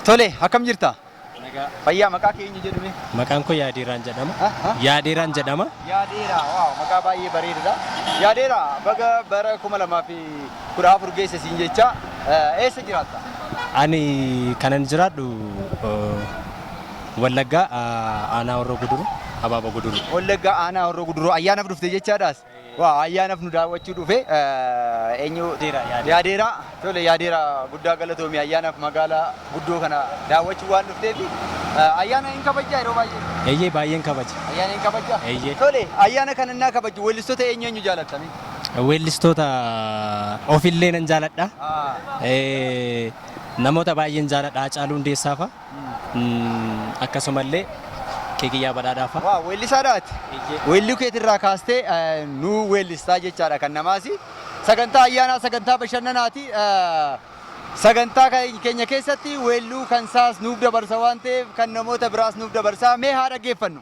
Tole, akkam jirta? Nagaa. Fayyaa, maqaa kee eenyu jedhame? Maqaan koo Yaadeeraan jedhama. Ha? Ha? Yaadeeraan jedhama. Yaadeera, waaw, maqaa baay'ee bareedudha. Yaadeera, baga bara 2014 geesse siin jecha eh, eessa jiraatta? Ani kanan jiraadhu eh, Wallaggaa eh, aanaa Horroo Guduruu, Abaaba Guduruu. Wallaggaa aanaa Horroo Guduruu ayyaanaaf dhufte jechaadhaas. Waaw ayyaanaf nu daawwachuu dhufe eenyu yaadeera tole yaadeera guddaa galatoomi ayyaanaf magaala guddoo kana daawwachuu waan dhufteefi ayyaana hin kabajjaa yeroo baay'ee Eeyyee baay'een kabaja. ayyaana hin kabajjaa Eeyyee. tole ayyaana kana innaa kabajju weellistota eenyu eenyu jaalattanii Weellistoota ofillee nan jaaladha. Ah. Eh, Namoota baay'een jaaladha Haacaaluu Hundeessaa fa'a. Akkasumallee Keekiyyaa Badhaadhaa fa'a. Waaw weellisaadha ati. Weelluu keetirraa kaastee nu weellistaa jechaadha kan namaasi. Sagantaa ayyaanaa sagantaa bashannanaati. Sagantaa keenya keessatti weelluu kan saas nuuf dabarsa waan ta'eef kan namoota biraas nuuf dabarsa. Mee haa dhaggeeffannu.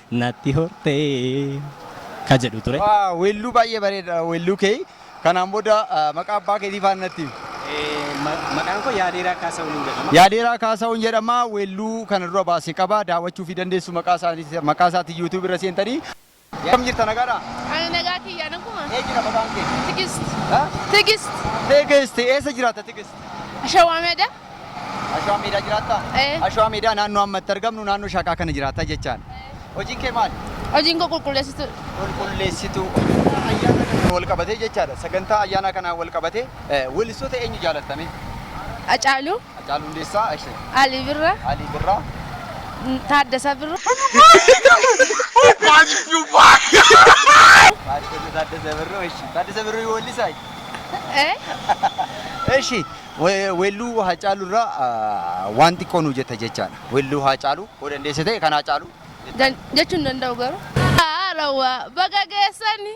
Natti hortee ka jedhu ture. Waaw weelluu baay'ee bareeda weelluu kee kanaan booda maqaa abbaa keetii faana natti himi. Maqaan koo Yaadeeraa Kaasahuun jedhama. Yaadeeraa Kaasahuun jedhama weelluu kana dura baase qaba daawwachuufii dandeessu maqaa isaatiin YouTube irra seentanii. Akkam jirta nagaadhaa? Ani nagaa kiyya naguma. Eenyudha maqaan kee? Tigist. Tigist. Tigist eessa jiraatta Tigist? Shawaa Meedaa. Ashwaa Meedaa jiraattaa? Ee. Ashwaa Meedaa naannoo amma itti argamnu naannoo Shaqaa kana jiraata jechaan. Hojiin kee maali? Hojiin koo qulqulleessitu. Qulqulleessituu. Ayyaana kanaan wal qabatee jechaadha. Sagantaa ayyaanaa kanaan wal qabatee eh, weellistoota eenyu jaalattamee? Acaalu, Hacaaluu Hundeessaa, Ashe, Ali Birra, Alii Birraa. Taaddasaa Birra. Taaddasa Taaddasa Birruu, Ashe. Taaddasa Birruu weellisaa? Ee. Eshi, Weelluu Haacaaluu irraa waan xiqqoo nuu jetta jechaadha. Weelluu Haacaaluu yoo dandeesse ta'e kan Haacaaluu jettaa. Jechuu hin danda'u garuu. Haalawa baga geessani.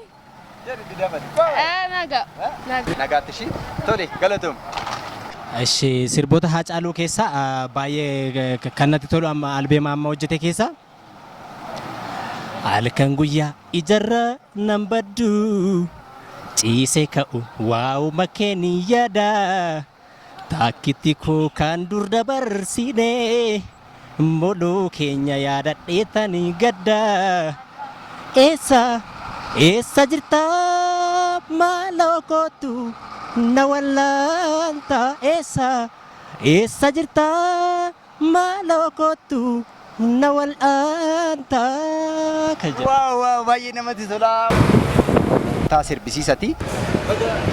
Jedhi itti dabali. Naga. Nagaatti ishii. Tole galatoom. Eshi sirboota Haacaaluu keessaa baay'ee kan natti tolu amma albeema amma hojjete keessaa. Halkan guyyaa ijarra nan baddu ciise ka'u waa'uma keen yaada taakkitti koo kan dur dabarsine moloo keenya yaadadheetan gadda eessa eessa jirta maaloo kootu na wallaanta eessa eessa jirta Maaloo koottu na wal'aanta kan jedhu. Wow wow baay'ee namatti tolaa. Taa sirbisiisati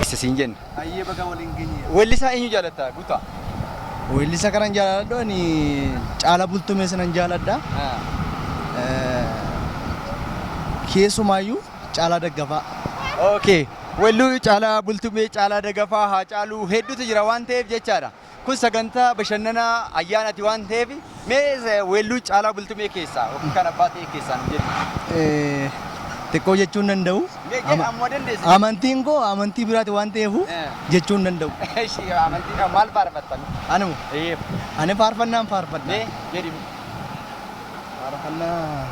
isa siin jenna. Ayyee baga waliin geenye. Weellisaa eenyu jaalatta guutaa? Weellisaa kanan jaaladhu ani Caalaa Bultumee sinan jaaladha. Keessumaayyuu Caalaa Daggafaa. Okay. Weelluu Caalaa Bultumee, Caalaa Dagafaa, Haacaaluu hedduutu jira waan ta'eef jechaadha. Kun sagantaa bashannanaa ayyaanaati waan ta'eef mee weelluu Caalaa Bultumee keessaa yookiin kan abbaa ta'ee keessaa nu jedhi. Xiqqoo jechuun danda'u. Amantiin koo amantii biraati waan ta'eef jechuun danda'u. Amantii maal faarfattan? Anuma. Ani faarfannaan faarfadha. Mee jedhi. Faarfannaa.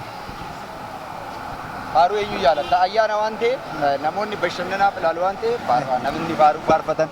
Faaruu eenyu jaalatta? Ayyaana waan ta'eef namoonni bashannanaaf ilaalu waan ta'eef faaruu namni faaruu faarfatan.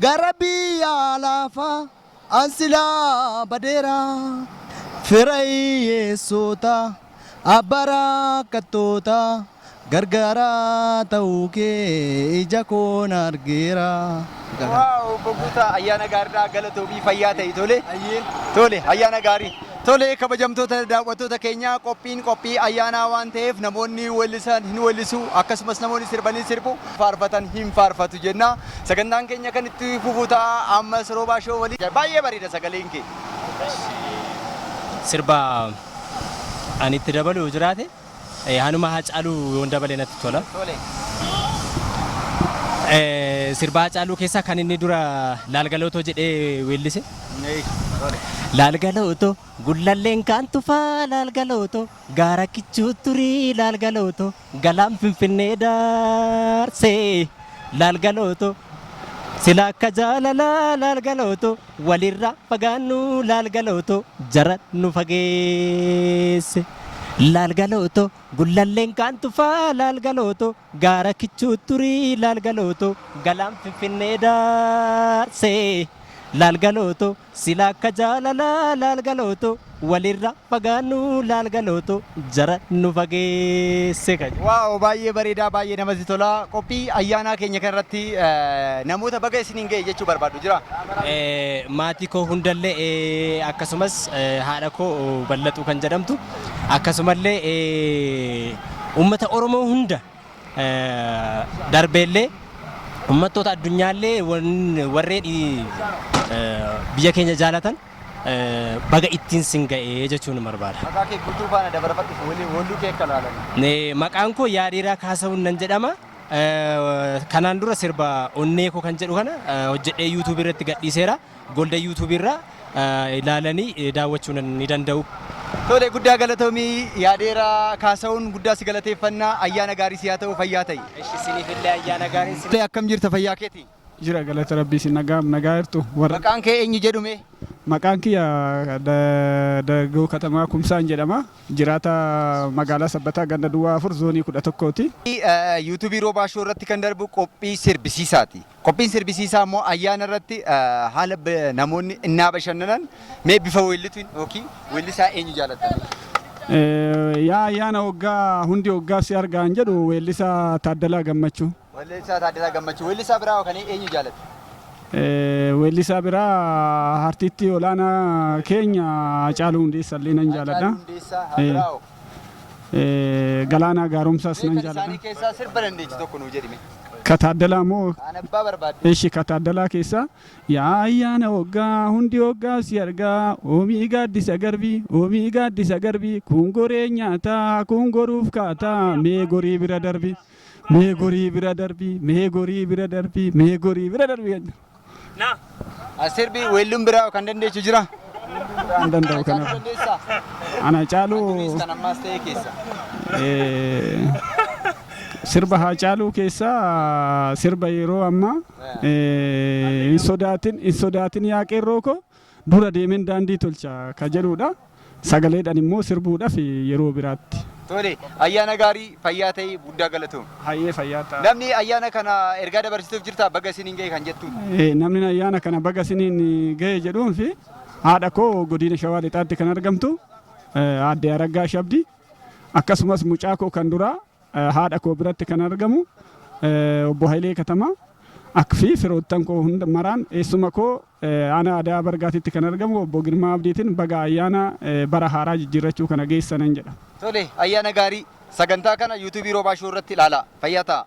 Gara biyya laafaa an silaa badeera, Fira hiyyeessoota, abbaa rakkattoota, Gargaaraa ta'uu kee ija koon argeera. Wow obbo Guutaa ayyaana gaaridhaa galatoomii fayyaa ta'i tole tole ayyaana gaarii tole kabajamtoota daawwattoota keenyaa qophiin qophii ayyaanaa waan ta'eef namoonni weellisan hin weellisu akkasumas namoonni sirban hin sirbu faarfatan hin faarfatu jenna. Sagantaan keenya kan itti fufu ta'a ammas Roobaa Show waliin. Baay'ee bareeda sagaleen kee. Sirba ani itti dabalu yoo jiraate eh, hanuma Haacaaluu yoon dabale natti tola. Eh, Sirba Haacaaluu keessaa kan inni dura laalgalootoo jedhee weellise. Laalgalootoo gullalleen kaan tufaa laalgalootoo. Gaara kichuu turi laal galooto galaan finfinnee daarse laal galooto sila akka jaalalaa laal galooto walirra fagaannu laal galooto jara nu fageesse laal galooto gullalleen kaan tufaa laal galooto gaara kichuu turi laal galooto galaan finfinnee daarse laal galooto Sila akka jaalala laal galooto walirra fagaannu laal galooto jara nu fageesse ka jedhu. Wow baay'ee bareedaa baay'ee namatti tola. Qophii ayyaanaa keenya kana irratti namoota baga isiniin ga'e jechuu barbaaddu jiraa? Maatii koo hundallee akkasumas haadha koo Ballaxuu kan jedhamtu akkasumallee uummata Oromoo hunda darbeellee ummattoota addunyaallee warreen biyya keenya jaalatan baga ittiin sin ga'ee jechuun barbaada. Maqaa kee guutuu faana dabarfadhu waliin walluu kee akka laalan. Maqaan koo Yaadheeraa Kaasawun nan jedhama. Kanaan dura sirba onnee koo kan jedhu kana hojjedhee yuutuubii irratti gadhiiseera. Golden YouTube irra ilaalani daawwachuu ni danda'u. Tole guddaa galatoomi yaadeera kaasa'uun guddaa si galateeffanna ayyaana gaarii si haa ta'u fayyaa ta'i. Eshi siniif illee ayyaana gaarii si. Akkam jirta fayyaa keeti? Jira galata rabbii si nagaam nagaa jirtu warra. Maqaan kee eenyu jedhume? Maqaan kiyya Dargaggoo Katamaa Kumsaan jedhama. Jiraata magaalaa Sabbataa ganda duwwaa afur zoonii kudha tokkooti. Yuutuubii Roobaa Shoo irratti kan darbu qophii sirbisiisaati. Qophiin sirbisiisaa immoo ayyaana irratti haala namoonni innaa bashannanan mee bifa weellitiin yookiin weellisaa eenyu jaalattan? Yaa ayyaana waggaa hundi waggaa si argaan jedhu weellisaa Taaddalaa Gammachuu. Weellisaa Taaddalaa Gammachuu. Weellisaa biraa kan eenyu jaalatta? Weellisaa biraa artistii olaanaa keenya Hacaaluu Hundeessaa illee nan jaaladha. Hacaaluu Hundeessaa biraa Galaanaa Gaaromsaas nan jaaladha. Kan isaanii keessaa sirba dandeechu tokko nuu jedhime. Ka Taaddalaa moo? Kaan abbaa barbaadde. Eshi ka Taaddalaa keessaa. Yaa ayyaana waggaa hundi waggaa si argaa oomii gaaddisa garbii oomii gaaddisa garbii kun goree nyaataa kun goruuf kaataa mee gorii bira darbii mee gorii bira darbii mee gorii bira darbii mee gorii bira darbii. Na. As sirbi weelluun biraa kan dandeechu jira. An danda'u Caaluu kana. dandeessaa? Ana caaluu Duris kan ammaas ta'e keessa. eh, sirba haa caaluu keessaa sirba yeroo ammaa eh, hin sodaatin hin sodaatin yaa qeerroo koo Dura deemeen daandii tolcha ka jedhuudha. Sagaleedhan immoo sirbuudhaf yeroo biraatti. Tole, ayyaana gaarii, fayyaa ta'i, guddaa galatoomi. Hayyee fayyaa ta'a. Namni ayyaana kana ergaa dabarsituuf jirtaa baga isiniin ga'e kan jettuun? Ee, namnin ayyaana kana baga isiniin ga'e jedhuunfi haadha koo godiina Shawaa Lixaatti kan argamtu eh, aadde Araggaash Abdii akkasumas mucaa koo kan duraa Haadha koo biratti kan argamu Obbo Hayilee Katamaa ak fi firoottan koo hunda maraan eessuma koo aanaa Adaa Bargaatitti kan argamu Obbo Girmaa Abdiitiin baga ayyaana bara haaraa jijjiirrachuu kana geessanan jedha. Tole, ayyaana gaarii! Sagantaa kana YouTube Roobaa Show irratti ilaalaa. Fayyaa ta'aa!